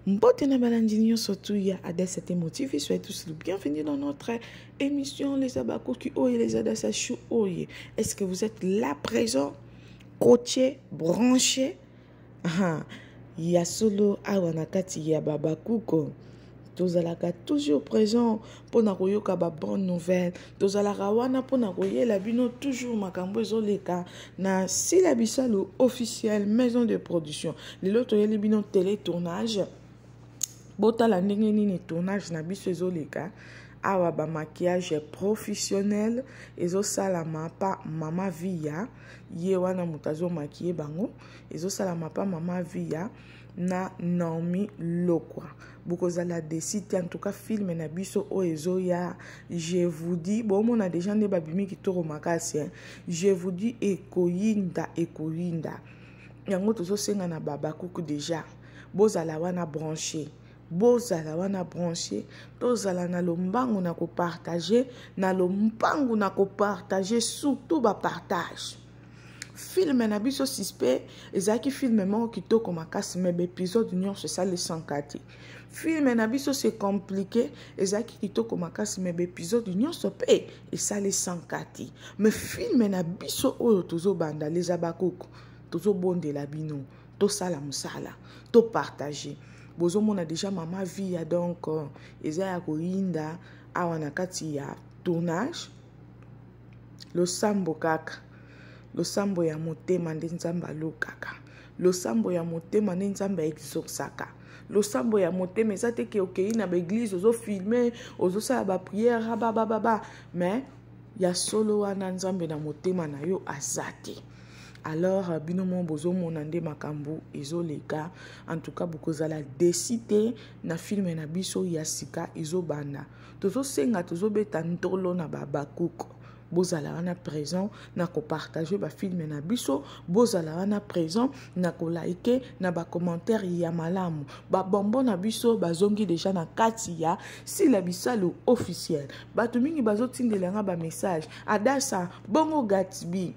Mbote na balandi nyonso tu ya Adassa te motivi soyez tous le bienvenue dans notre émission les abakoki oye les Adassa chou oye est-ce que vous êtes là présent coaché branché ah, ya solo awa na kati ya babakuko tozalaka toujours présent mpo na koyoka ba bonne nouvelle tozalaka wana mpo na koyela bino toujours makambo ezoleka na sila bisalu officiel maison de production lelo toyeli bino tele tournage botala ndenge nini tournage na biso ezoleka awa ba maquillage professionnel ezosalama pa mama viya ye wana moto azomakiye bango ezosalama pa mama viya na Naomi Lokwa bokozala desi te en tout cas film na biso oyo ezoya je vous dis bomona deja nde babimi kitoko makasi hein? je vous dis ekoyinda ekoyinda yango tozosenga na babakuku deja bozala wana branche bozala wana branche tozala na lombangu na kopartage na lombangu na kopartage surtout bapartage filme na biso suspect ezalaki filme moko kitoko makasi me baepisode nyonso esalisaka te filme na biso se compliqué ezalaki kitoko makasi me baepisode nyonso mpe esalisaka te me filme na biso oyo tozobanda les abakuku tozobondela bino tosala mosala topartage bozomona deja mama via donc euh, eza ya koyinda awa na kati ya tournage losambo kaka losambo ya motema nde nzambe alukaka losambo ya motema nde nzambe aexorsaka losambo ya motema eza te ke okei na baeglize ozofilme ozosala bapriere ababababa mais ya solo wana nzambe na motema na yo aza te alors euh, bino moko bozomona nde makambo ezoleka en tout cas bokozala desi te na filme na biso ya sika ezobanda tozosenga tozobeta ntolo na babakuku bozala wana présent na kopartage bafilme na biso bozala wana présent na kolaike na bacommentaire ya malamu babombo na biso bazongi deja na kati ya sila bisalu officiel bato mingi bazotindela nga bamessage adasa bongo gatsby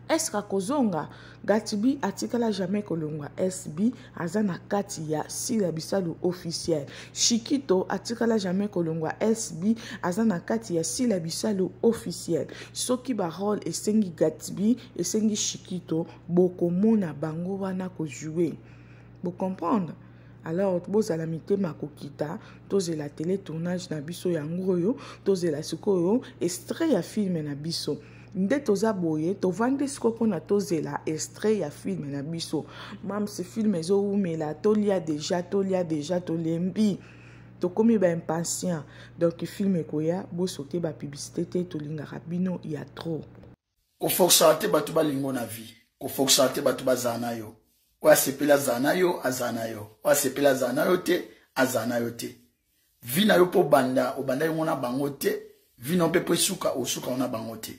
eske akozonga gatibi atikala jamais kolongwa sb aza na kati ya sila bisalu officiel shikito atikala jamais kolongwa sb aza na kati ya sila bisalu officiel soki barole esengi gatibi esengi shikito bokomona bango wana kojoue bocomprendre alors bozala mitema kokita tozela tele tournage na biso yango oyo tozela sikoyo estre ya filme na biso nde toza boye tovandi siko mpona tozela extrait ya filme na biso mams filme ezowumela tolia deja tolia deja tolembi tokomi baimpatient donc filme ekoya bosote bapublicité te tolingaka bino ya trop kofoksaka te bato balingo na vie kofoksaka te bato bazala na yo oyo asepeli azala na yo azala na yo oyo asepeli azala na yo te azala na yo te vi na yo mpe obanda obandaki ngo na bango te vi na yo mpe mpo esuka osuka ngo na bango te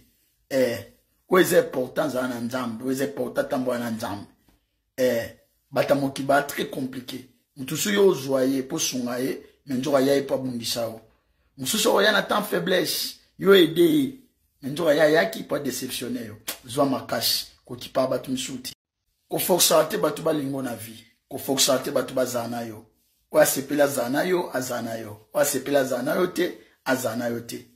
eh, oyo eza important zala na nzambe oyo eza important tambola na nzambe eh, bata mokiba très compliqué moto soki ozwa ye mpo osunga ye me nzoka aya ye mpo abundisa yo mosusu okoya na temps faiblesse yo ede ye me nzoka ye ayaki mpo adeceptionne yo zwa makasi kokipa bato misuti kofoksaka te bato balingo na vie kofoksaka te bato bazala na yo oyo asepeli azala na yo azala na yo oyo asepeli azala na yo te azala na yo te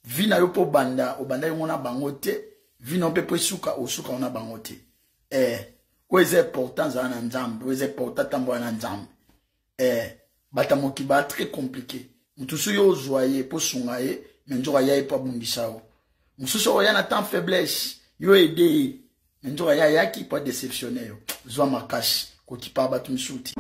vi na yo mpo obanda obanda yango na bango te vi na yo mpe mpo esuka osuka yango na bango te ee eh, oyo eza important zala na nzambe oyo eza important tambola na nzambe eh, bata moki ba très compliqué moto soki ozwa ye mpo sunga ye me nzoka aya ye mpo abundisa yo mosusu okoya na temps faiblesse yo ede ye me nzoka ye ayaki mpo adeceptionne yo zwa makasi kokipa bato misusu ti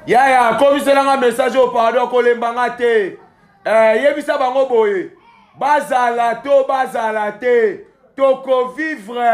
yaya akomiselanga message oyo pardon kolemba nga te eh, yebisa bango boye bazala to bazala te tokovivre